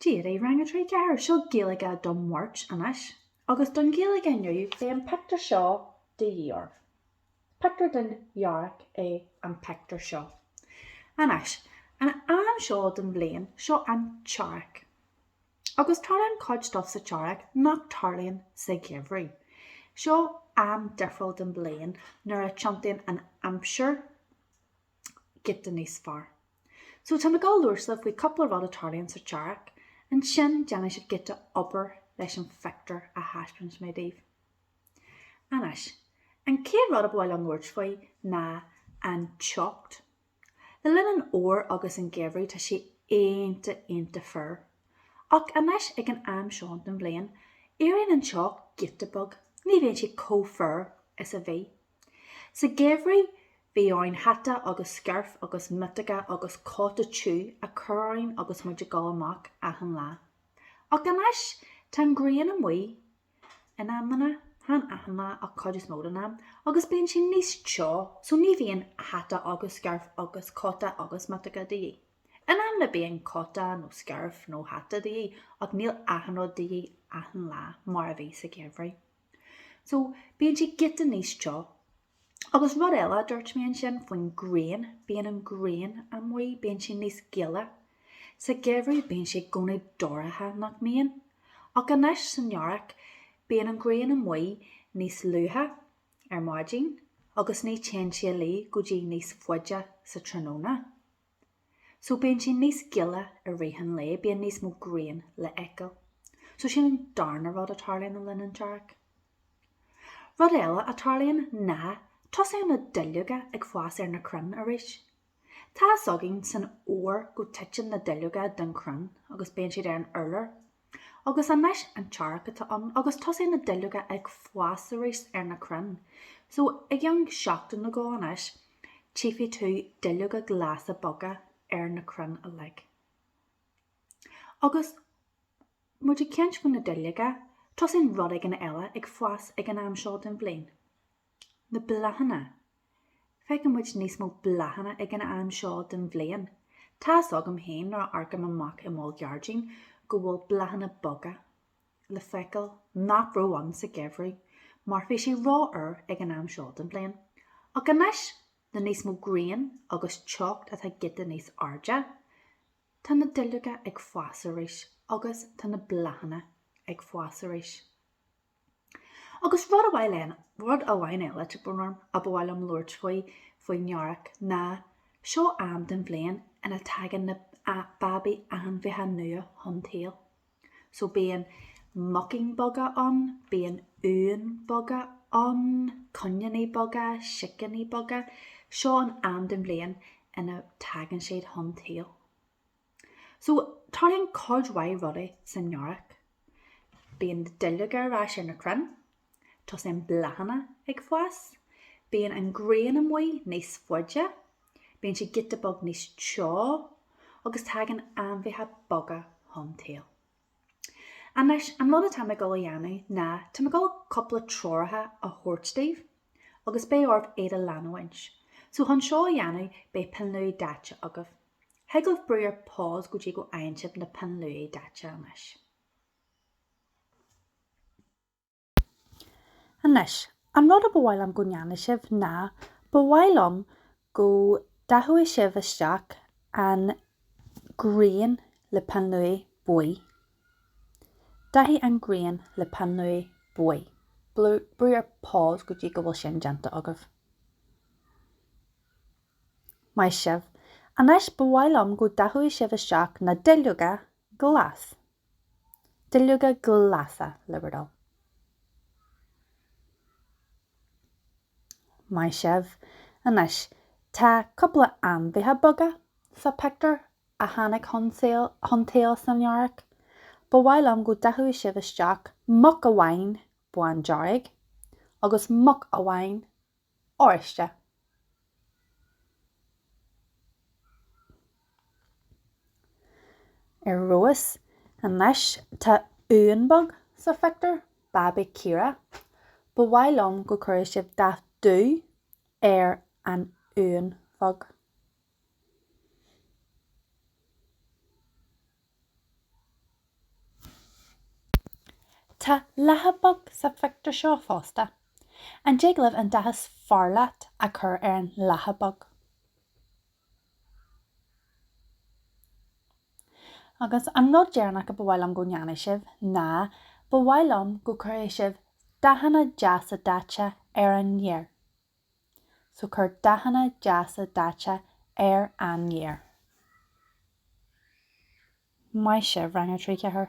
Dia daoibh Rang a 3, 4! Seo Gaeilge don Mháirt anois. Agus don Ghaeilge inniu beidh an pictiúr seo de dhíth oraibh. Pictiúr den Earrach é an pictiúr seo. Anois, an am seo den bhliain, seo an tEarrach. Agus tarlaíonn cuid stuff sa tEarrach nach tarlaíonn sa gheimhridh. Seo am difriúil den bhliain nuair a tiontaíonn an aimsir. giota níos fearr. So tá mé ag gabháil a labhairt libhse faoi cúpla rud a tarlaíonn sa tEarrach, ansin déanfaidh sibh giota obair leis an phictiúr a thaispeánfas mé daoibh. Anois, an chéad rud ba mhaith liom labhairt faoi ná an teocht. Le linn an fhómhair agus an gheimhridh tá sé iontach, iontach fuar. Ach anois ag an am seo den bhliain, éiríonn an teocht giota beag, ní bhíonn sé chomh fuar is a bhí. Sa gheimhridh bhí orainn hata agus scairf agus miotóga agus cóta tiubh a chur orainn agus muid ag gabháil amach achan lá. Ach anois tá an ghrian amuigh in amanna, chan achan lá ach cuid is mó den am, agus bíonn sé níos teo so ní bhíonn hata agus scairf agus cóta agus miotóga de dhíth. In amanna bíonn cóta nó scairf nó hata de dhíth ach níl achan rud de dhíth achan lá mar a bhí sa gheimhridh. So, bíonn sé giota níos teo. Agus rud eile a dúirt mé ansin faoin grian, bíonn an ghrian amuigh, bíonn sé níos gile. Sa gheimhridh bíonn sé i gcónaí dorcha, nach mbíonn? Ach anois san earrach, bíonn an ghrian amuigh níos luaithe ar maidin agus ní théann sí a luí go dtí níos faide sa tráthnóna. So bíonn sé níos gile i rith an lae, bíonn níos mó grian le fheiceáil. So sin an darna rud a tarlaíonn le linn an tEarrach. Rud eile a tarlaíonn ná tosaíonn na duilleoga ag fás ar na crainn arís. Tá a fhios againn san Fhómhar go titeann na duilleoga den crann agus bíonn siad ar an urlár Agus anois an t-earrach atá ann agus tosaíonn na duilleoga ag fás arís ar na crainn. So, i gceann seachtain nó dhó anois, tchífidh tú duilleoga glasa beaga ar na crainn uilig. Agus muid ag caint faoi na duilleoga, tosaíonn rud éigin eile ag fás ag an am seo den bhliain. Na bláthanna. Feiceann muid níos mó bláthanna ag an am seo den bhliain. Tá a fhios agam féin nuair a amharcaim amach i mo ghairdín go bhfuil bláthanna beaga le feiceáil nach raibh ann sa gheimhridh mar bhí sé rófhuar ag an am seo den bhliain. Ach anois, le níos mó grian agus teocht atá giota níos airde, tá na duilleoga ag fás arís agus tá na bláthanna ag fás arís. Agus rud amháin eile, rud amháin eile, tá brón orm, a ba mhaith liom labhairt faoi, faoin earrach, ná, seo am den bhliain ina dtagann na, a, babaí ainmhithe nua chun tsaoil. So, bíonn muicín beaga ann, bíonn uain bheaga ann, coiníní beaga, sicíní beaga, seo an am den bhliain ina dtagann siad chun tsaoil. So, tarlaíonn cuid mhaith rudaí san Earrach. Bíonn duilleoga ar ais ar na crainn, tosaíonn bláthanna ag fás, bíonn an ghrian amuigh níos faide, bíonn sé giota beag níos teo agus tagann ainmhithe beaga chun tsaoil. Anois, an rud atá mé ag dul a dhéanamh ná tá mé ag dul cúpla treoracha a thabhairt daoibh agus beidh oraibh iad a leanúint. So chun seo a dhéanamh beidh pinn luaidhe daite agaibh. Thig libh brú ar pause go dtí go bhfaigheann sibh na pinn luaidhe daite anois. Anois, an rud a ba mhaith liom go ndéanfadh sibh ná, ba mhaith liom go ndathódh sibh isteach an ghrian le peann luaidhe buí. Dathaigh an ghrian le peann luaidhe buí. Brú ar pause go dtí go bhfuil sin déanta agaibh. Maith sibh. Anois, ba mhaith liom go ndathódh sibh isteach na duilleoga glas. Duilleoga glasa, le bhur dtoil. Maith sibh. Anois, tá cúpla ainmhithe beaga sa pictiúr a tháinig chun tsaoil san Earrach. Ba mhaith liom go ndathódh sibh isteach muc amháin bándearg agus muc amháin oráiste. Ar fheabhas. Anois tá uan beag sa phictiúr, babaí caora. Ba mhaith liom go gcuirfeadh sibh dath dubh ar an uan bheag. Tá lacha bheag sa phictiúr seo fosta. An dtig libh an dath is fearr leat a chur ar an lacha bheag? Agus an rud deireanach a ba mhaith liom go ndéanfadh sibh ná ba mhaith liom go gcuirfeadh sibh dathanna deasa daite ar an fhéar. so cuir dathanna deasa daite ar an fhéar. Maith sibh, Rang a Trí, Ceathair!